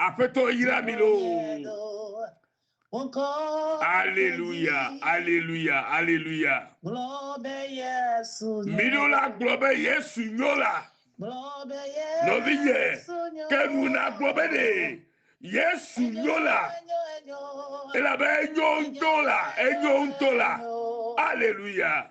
Aƒetɔ yra mi loo. Aleluya, aleluya, aleluya. Miɖo la gblɔ be Yesu nyo la. Nɔvinye, ke nu na gblɔ be ne Yesu nyo la. Elabe enyo ŋutɔ la, enyo ŋutɔ la. Aleluya.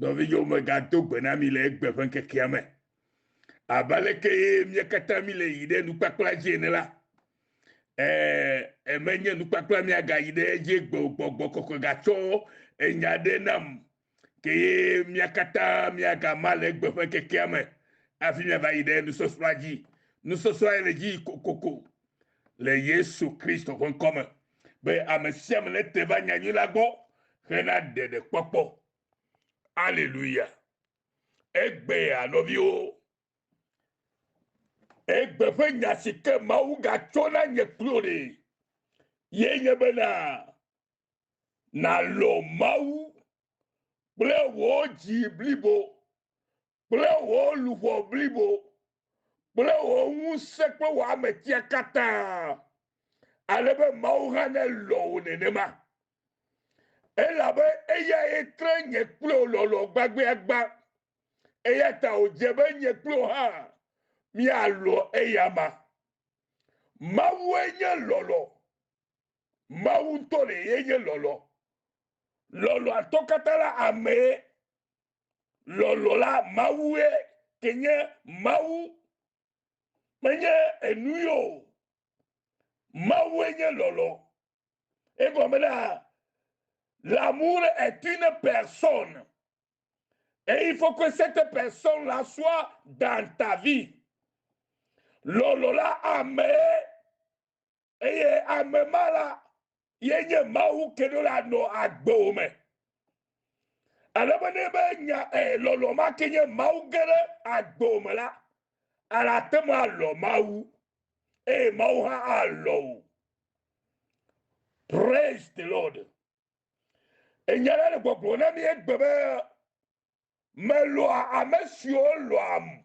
Nɔvinyewo megado gbe na mi le egbe ƒe ŋkekea me. Abe aleke mía katã mi le yi ɖe nukpakpla dzi ene la, ee, menye nukpakpla miagayi ɖe edzi gbe o, gbɔgbɔ kɔkɔe gatsɔ enya ɖe nam, ke ye mía katã miagama le egbe ƒe ŋkekea me hafi miava yi ɖe nusɔsrɔ̃a dzi. Nusɔsrɔ̃a le dzi kokoko. le Yesu Kristo ƒe ŋkɔ me be ame sia ame nete va nyanyui la gbɔ hena ɖeɖekpɔkpɔ. Aleluya! Egbea, nɔviwo, egbe ƒe nya si ke Mawu gatsɔ na nye kplo ɖe ye nye bena nàlɔ̃ Mawu kple wò dzi blibo kple wò luʋɔ blibo kple wò ŋusẽ kple wò ametia katã, ale be Mawu hã nelɔ̃ wò nenema. Elabe eyae tre nye kple wò lɔlɔ̃ gbagbeagbã, eya ta wòdze be nye kple wò hã míalɔ̃ eyama. Mawue nye lɔlɔ̃. Mawu ŋutɔ ɖee nye lɔlɔ̃. Lɔlɔ̃atɔ katã la amee lɔlɔ la Mawue ke nye Mawu, menye enu yo o. Mawue nye lɔlɔ. Egɔme na l'amour est une personne et il faut que cette personne la soit dans ta vie. Lɔlɔ la amee Eye ame ma la ye nye Mawu ke ɖo la nɔ agbewo me. Ale be ne be nya eh, lɔlɔ ma ke nye Mawu ge ɖe agbewo me la, ala ate ŋu alɔ Mawu, eye Mawu hã alɔ wò. Praise the Lord. Enya la le gbɔgblɔ na mi egbe be melɔa ame siwo lɔam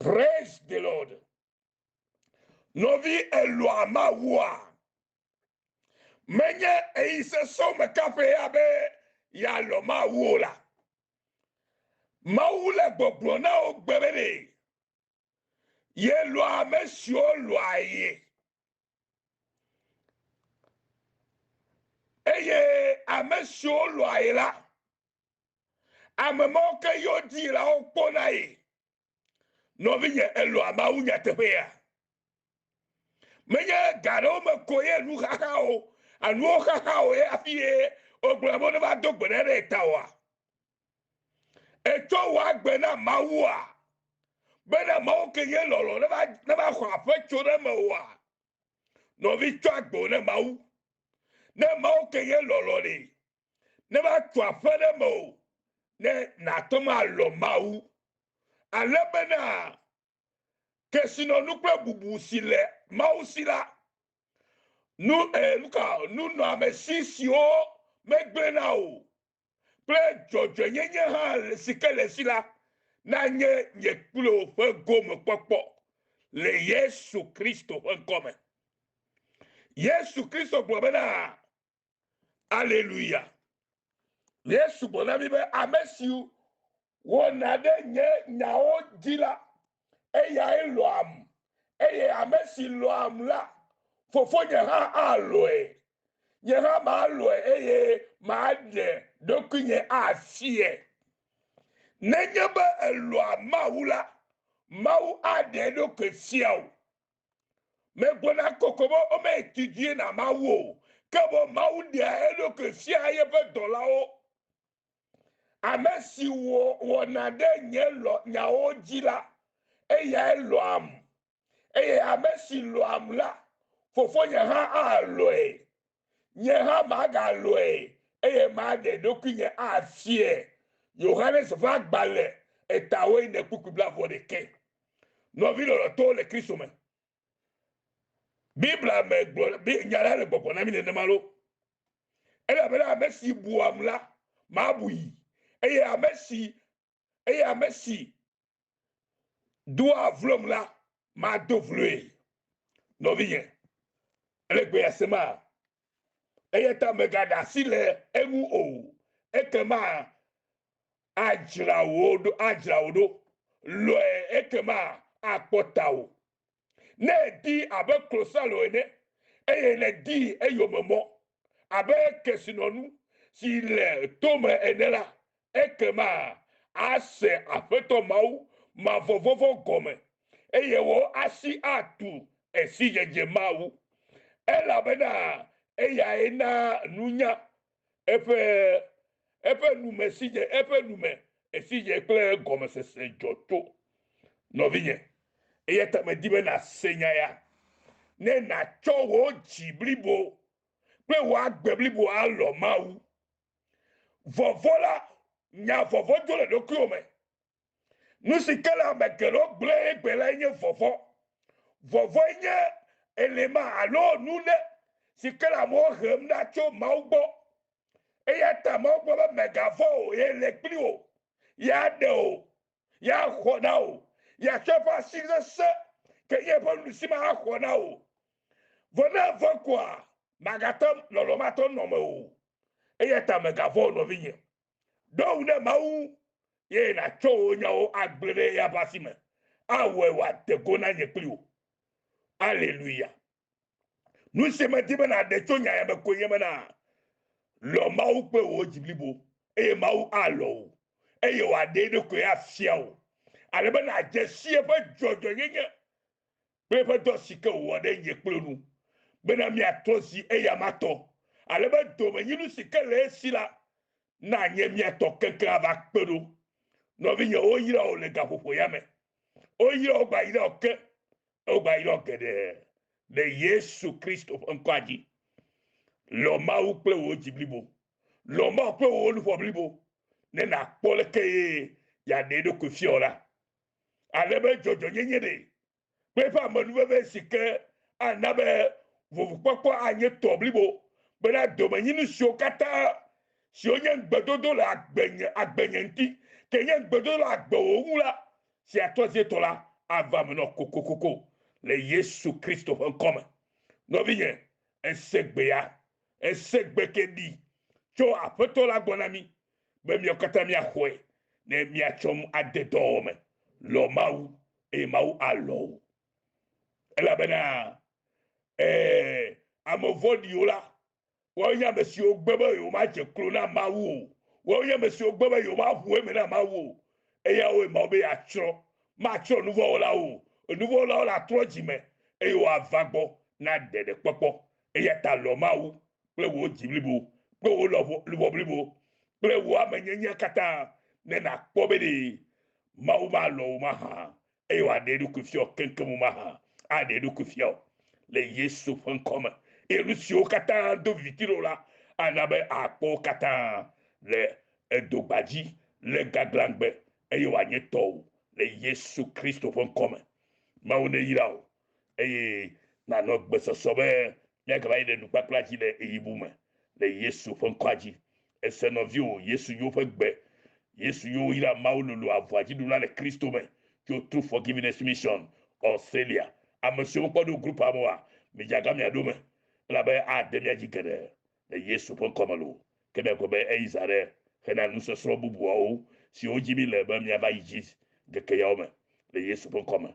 Praise the Lord. Nɔvi elɔa Mawua. Menye eyi sesɔ me kaƒe ya be yalɔ Mawu o la. Mawu le gbɔgblɔ na wo gbe be ɖe yelɔa ame siwo lɔa ye. Eye ame siwo lɔa ye la, Ame mawo ke yɔ dzilawo kpɔna ye. Nɔvinye, èlɔ̃a Mawu nyateƒea? Menye ga aɖewo me koe ye nuxaxa o, anuwo xaxa o ye hafi ye wogblɔna be woneva do gbe ɖa ɖe ye ta oa? Ètsɔ wò agbe na Mawua? Bena Mawu ke nye lɔlɔ̃ neva neva xɔ aƒe tso ɖe eme oa? Nɔvi, tsɔ agbewò na Mawu. Ne Mawu ke nye lɔlɔ̃ ɖe, ne matu aƒe ɖe eme o, ne nàte ŋu alɔ Mawu, ale bena kesinɔnu kple bubu si le Mawu si la, nu e, nuka, nunɔamesi siwo megblẽna o kple dzɔdzɔenyenye hã si ke le esi la, nanye nye kple wò ƒe gomekpɔkpɔ le Yesu Kristo ƒe ŋkɔ me. Yesu Kristo gblɔ bena, aleluya ye sugbɔ na mi be ame siwo wɔna ɖe nye nyawo dzi la eyae lɔam eye ame si lɔam la fofonye hã alɔe nye hã malɔe eye maɖe ɖokuinye afiɛ nenye be elɔa mawu la mawu aɖe ɖokui fia o Megblɔna kɔkɔ be womedidie na Mawu o, ke boŋ Mawu ɖea eɖokui fiaa yeƒe dɔlawo. Ame si wɔ wɔna ɖe nye lɔ nyawo dzi la, eyae lɔ̃am, eye ame si lɔ̃am la, Fofonye hã alɔ̃e. Nye hã magalɔ̃e, eye maɖe ɖokuinye afiae. Yohanes ƒe agbalẽ Etawo ene kpukpui blaeve-vɔ-ɖekɛ. Nɔvi lɔlɔ̃tɔwo le Kristo me, Biblia me gblɔ be nya la le gbɔgbɔ na mí nenema loo. Elabena ame si buam la, mabui, eye ame si eye ame si doa vlom la mado vloe. Nɔvinye, ele gbe ya sema? Eya ta mègaɖe asi le eŋu o, ekema adzra wò ɖo, adzra wò ɖo. Lɔ̃e ekema akpɔ tawò. ne èdii abe klosalo ene, eye nèdii eyome mɔ abe kesinɔnu si le tome ene la, ekema àse Aƒetɔ Mawu mavɔvɔ̃vɔ gɔme, eye wò asi atu esidzedze Mawu, elabena eyae naa nunya Eƒe, eƒe nu me si dze, eƒe nu me esi dze kple gɔmesese dzɔ tso. Nɔvinye, eya ta medi be nàse nya ya, ne nàtsɔ wò dzi blibo kple wò agbe blibo alɔ̃ Mawu. Vɔvɔ̃ la, nya vɔvɔ̃ dzo le ɖokuiwò me, Nu si ke le ame geɖewo gblẽ egbe lae nye vɔvɔ̃. Vɔvɔ̃e nye elima alo nu ɖe si ke le amewo hem ɖa tso Mawu gbɔ. Eya ta Mawu gblɔ be, Mègavɔ̃ o, ye le kpli wò, ye aɖe wò, ye axɔ na wò, ye atsɔ eƒe asi sesẽ ke nye eƒe nuɖusi me axɔ na wò. Vɔ ne èvɔ̃e koa, màgate lɔlɔ̃ matɔ nɔ mewò o. Eya ta mègavɔ̃ o, nɔvinye. Ɖo ŋu ɖe Mawu ŋu, eye nàtsɔ wò nyawo agblẽ ɖe eya ƒe asi me, awɔe wòade go na nye kpli wò. Aleluya! Nu si medi be nàɖe tso nya ya me koe nye bena, lɔ̃ Mawu kple wò dzi blibo, eye Mawu alɔ̃ wò, eye wòaɖe eɖokui afia wò, ale be nàdze si eƒe dzɔdzɔenyenye kple eƒe dɔ si ke wòwɔ ɖe nye kple nu, bena míatrɔ zi eya ma tɔ, ale be domenyinu si ke le esi la nanye mía tɔ keŋkeŋ ava kpe ɖo. Nɔvinye, woyra wò le gaƒoƒo ya me. Woyra wò gbayra wò ke, eye wogayra wò geɖe le Yesu Kristo ƒe ŋkɔa dzi. Lɔ̃ Mawu kple wò dzi blibo. Lɔ̃ Mawu kple wò luʋɔ blibo, ne nàkpɔ leke ye yeaɖe eɖokui fia wò la, ale be dzɔdzɔnyenye ɖe kple eƒe amenuveve si ke ana be vovukpɔkpɔ anye tɔ blibo bena domenyinu siwo katã siwo nye ŋugbedodo le agbenye agbenye ŋuti ke nye ŋugbedodo le agbewò ŋu la si atrɔ asie tɔ la ava me nɔ kokokoko le Yesu Kristo ƒe ŋkɔ me. Nɔvinye, ese gbea, ese gbe ke ɖi tso Aƒetɔ la gbɔ na mí be miawo katã miaxɔe, ne miatsɔ nu ade dɔwɔwɔ me. Lɔ̃ Mawu, eye Mawu alɔ̃ wò. Elabena, ẽ, ame vɔ̃ɖiwo la, woawoe nye ame siwo gbe be yewomadze klo na Mawu o, woawo nye ame siwo gbe be yewomaʋu eme na Mawu o, eyawoe Mawu be yeatsrɔ̃. Matsrɔ̃ nuvɔ̃wɔlawo o, enuvɔ̃wɔlawo latrɔ dzi me, eye woava gbɔ na ɖeɖekpɔkpɔ. Eya ta lɔ̃ Mawu kple wò dzi blibo kple wò lɔ̃ luʋɔ blibo kple wò ame nyenyea katã ne nàkpɔ be ɖe Mawu malɔ̃ wò mahã eye wòaɖe eɖokui fia wò keŋkeŋ wò mahã aɖe eɖokui fia wò le Yesu ƒe ŋkɔ me eye nu siwo katã do viviti ɖe wò la ana be àkpɔ wo katã le edo gbadzi le gaglãgbe eye wòanye tɔwò le Yesu Kristo ƒe ŋkɔ me. Mawu neyra wò. eye nànɔ gbesɔsɔ be míagava yi ɖe nukpakpla dzi le ɣeyiɣibu me le Yesu ƒe ŋkɔa dzi. Èse nɔviwò Yesu Yo ƒe gbe. Yesu Yo yra Mawu lolo avɔa dzi ɖuna le Kristo me tso True Forgiveness Mission, Australia. Amesiwo mekpɔ ɖo grupua me oa, midzaga mia ɖo me, elabe ade mía dzi geɖe le Yesu ƒe ŋkɔ me loo, ke ne egbe be eyi zã aɖe hena nusɔsrɔ̃ bubuawo siwo dzi míle be míava yi dzi ŋkeke yawo me le Yesu ƒe ŋkɔ me.